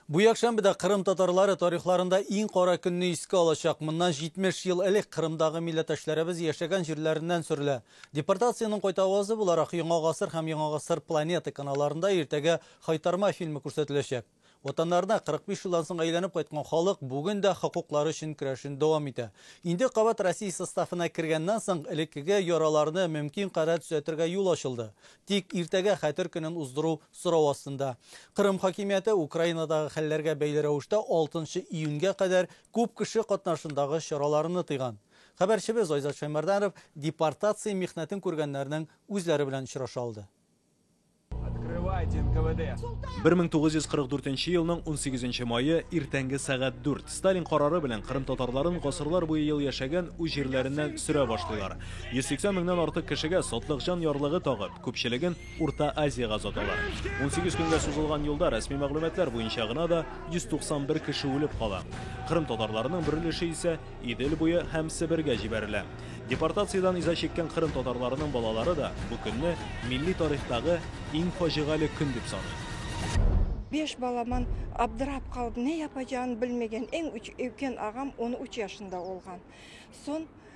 Бу якшәмбедә Кырым татарлары тарихларында иң кара көнне искә алачак. Моннан 70 ел элек Кырымдагы милләтәшләребез яшәгән җирләреннән сөрелә. Депортациянең кайта авазы буларак Яңа гасыр һәм Яңа гасыр планета каналларында иртәгә Хайтарма фильмы күрсәтеләчәк. Ватаннарына 45 елдан соң әйләнеп кайткан халык бүген дә хокуклары өчен көрәшен дәвам итә. Инде кабат Россия составына кергәннән соң элеккеге яраларны мөмкин кадәр төзәтергә юл ачылды. Тик иртәгә Хәтер көнен уздыру Сорау астында. Кырым хакимияте Украинадагы хәлләргә бәйле рәвештә алтынчы июньгә кадәр күп кеше катнашындагы чараларны тыйган. Хәбәрчебез Айзат Шәймәрданов депортация михнәтен күргәннәрнең үзләре белән очраша алды. Открывайте, НКВД! Бер мең тугыз йөз кырык дүртенче елның унсигезенче мае, иртәнге сәгать дүрт. Сталин карары белән кырым татарларын гасырлар буе ел яшәгән үз җирләреннән сөрә башлыйлар. Йөз сиксән меңнән артык кешегә сатлыкҗан ярлыгы тагып, күпчелеген, Урта Азиягә озаталар. Унсигез көнгә сузылган юлда рәсми мәгълүматлар буенча гына да 191 кеше үлеп кала. Кырым татарларының бер өлеше исә Идел буе һәм Себергә җибәрелә. Депортациядән иза чиккән кырым татарларының балалары да бу көнне милли тарихтагы иң фаҗигале көн дип саный. Биш баламан абдырап калып, не япаҗагын белмеген эң үч өкен агам он уч яшында олган. Сон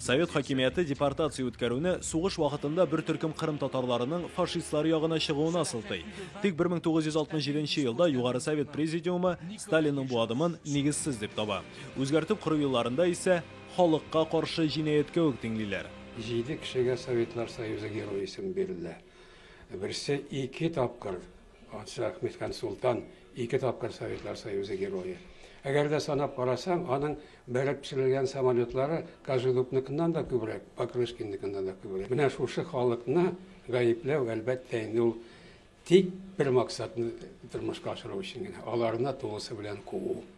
Совет хакимияте депортация үткәрүне сугыш вакытында бер төркем кырым татарларының фашистлар ягына чыгуына сылтый. Тик 1967 елда Югары Совет Президиумы Сталинның бу адымын нигезсез дип таба. Үзгәртеп кору елларында исә халыкка каршы җинаять кебек тиңлиләр. Җиде кешегә Советлар Союзы Герое исеме бирелә. Берсе ике тапкыр Патша Әхмед хан Солтан ике тапкыр Советлар Союзы Герое. Әгәр дә санап карасаң, аның бәреп төшерелгән самолетлары Кожедубныкыннан да күбрәк, Покрышкинныкыннан да күбрәк. Менә шушы халыкны гаепләү, әлбәттә, инде ул тик бер максатны тормышка ашыру өчен генә, аларны тулысы белән куу.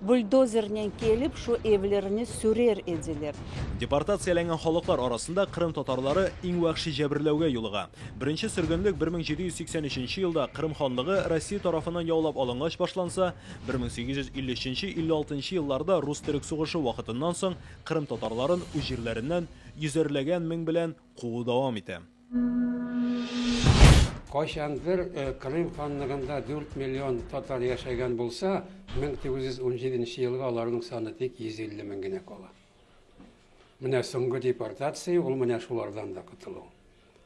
Бульдозернен килеп шу эвлерне сүрер эделер. Депортацияләнгән халыклар арасында кырым татарлары иң вәхши җәберләүгә юлыга. Беренче сөргенлек 1783 елда Кырым ханлыгы Россия тарафыннан яулап алынгач башланса, 1853-56 елларда рус-төрек сугышы вакытыннан соң кырым татарларын үз җирләреннән йөзәрләгән мең белән куу дәвам итә. Кайчандыр Крым ханлыгында 4 миллион татар яшәгән булса, 1917 елга аларның саны тик 150 мең генә кала. Менә соңгы депортация ул менә шулардан да котылу.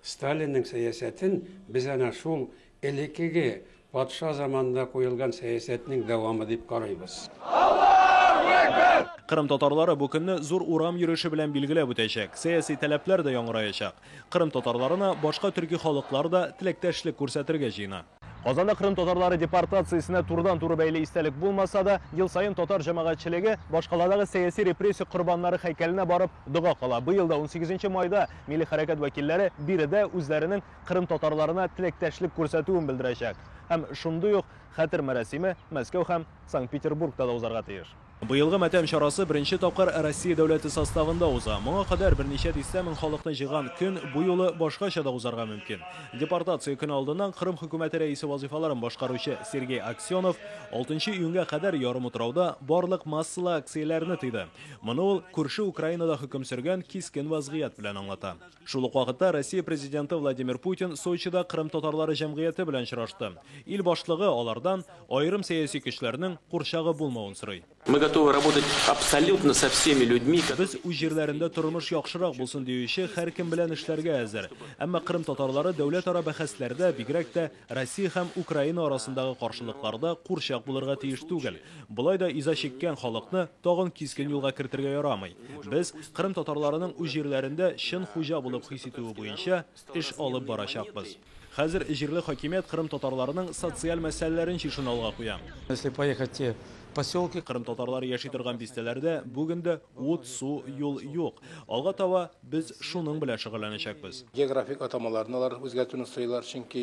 Сталинның сәясәтен без әнә шул Элеккеге, патша заманында куелган сәясәтнең дәвамы дип карыйбыз. Аллаһу әкбәр! Кырым татарлары бу көнне зур урам йөреше белән билгеләп үтәчәк, сәяси таләпләр дә яңгыраячак. Кырым татарларына башка төрки халыклар да теләктәшлек күрсәтергә җыена. Казанда Кырым татарлары депортациясенә турыдан-туры бәйле истәлек булмаса да, ел саен татар җәмәгатьчелеге башкаладагы сәяси репрессия корбаннары һәйкәленә барып дога кыла. Быел да унсигезенче майда милли хәрәкәт вәкилләре биредә үзләренең кырым татарларына теләктәшлек күрсәтүен белдерәчәк һәм шундый ук Хәтер мәрасиме Мәскәү һәм Санкт-Петербургта да узарга тиеш. Быелгы матәм чарасы беренче тапкыр Россия дәүләте составында уза. Моңа кадәр берничә дистә мең халыкны җыйган көн бу юлы башкача да узарга мөмкин. Депортация көне алдыннан Кырым хөкүмәте рәисе вазыйфаларын башкаручы Сергей Аксенов алтынчы июньгә кадәр ярымутрауда барлык массалы акцияләрне тыйды. Моны ул күрше Украинада хөкем сөргән кискен вазгыять белән аңлата. Шул ук вакытта Россия Президенты Владимир Путин Сочида кырым татарлары җәмгыяте белән очрашты. Ил башлыгы алардан аерым сәяси көчләрнең курчагы булмавын сорый. Мы готовы работать абсолютно со всеми людьми, которые... Без үз җирләрендә тормыш яхшырак булсын диюче һәркем белән эшләргә әзер. Әмма кырым татарлары дәүләтара бәхәсләрдә, бигрәк тә Россия һәм Украина арасындагы каршылыклар да курчак булырга тиеш түгел. Болай да иза чиккән халыкны тагын кискен юлга кертергә ярамый. Без Кырым татарларының үз җирләрендә чын хуҗа булып хис итүе буенча эш алып барачакбыз. Хәзер җирле хакимият Кырым татарларының социаль мәсьәләләрен чишүне алга куя. Если поехать в те поселки. Кырым татарлары яши торган бистәләрдә бүген дә ут, су, юл юк. Алга таба. Без шуның белән шөгыльләнәчәкбез. Географик атамаларны алар үзгәртүне сорыйлар, чөнки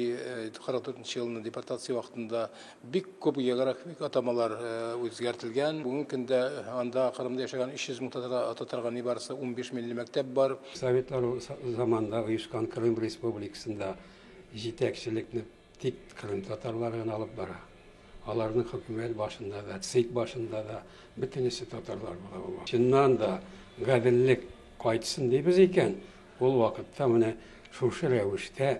44 нче елны депортация вакытында бик күп географик атамалар үзгәртелгән. Бүгенге көндә анда, Кырымда яшәгән 300 мең татарга ататырга нибарысы унбиш милли мәктәп бар. Советлар заманында оешкан Крым республикасында җитәкчелекне Тик кырым татарлары гына алып бара. Аларның хөкүмәт башында да, ЦИК башында да бөтенесе татарлар була бу. Чыннан да гаделлек кайтсын дибез икән, ул вакытта менә шушы рәвештә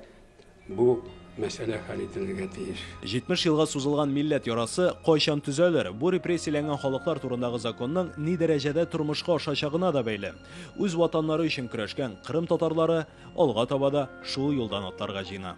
бу мәсьәлә хәл ителергә тиеш. 70 елга сузылган милләт ярасы кайчан төзәлер, бу репрессияләнгән халыклар турындагы законның ни дәрәҗәдә тормышка ашачагына да бәйле. Үз ватаннары өчен көрәшкән кырым татарлары алга таба да шул юлдан атларга җыена.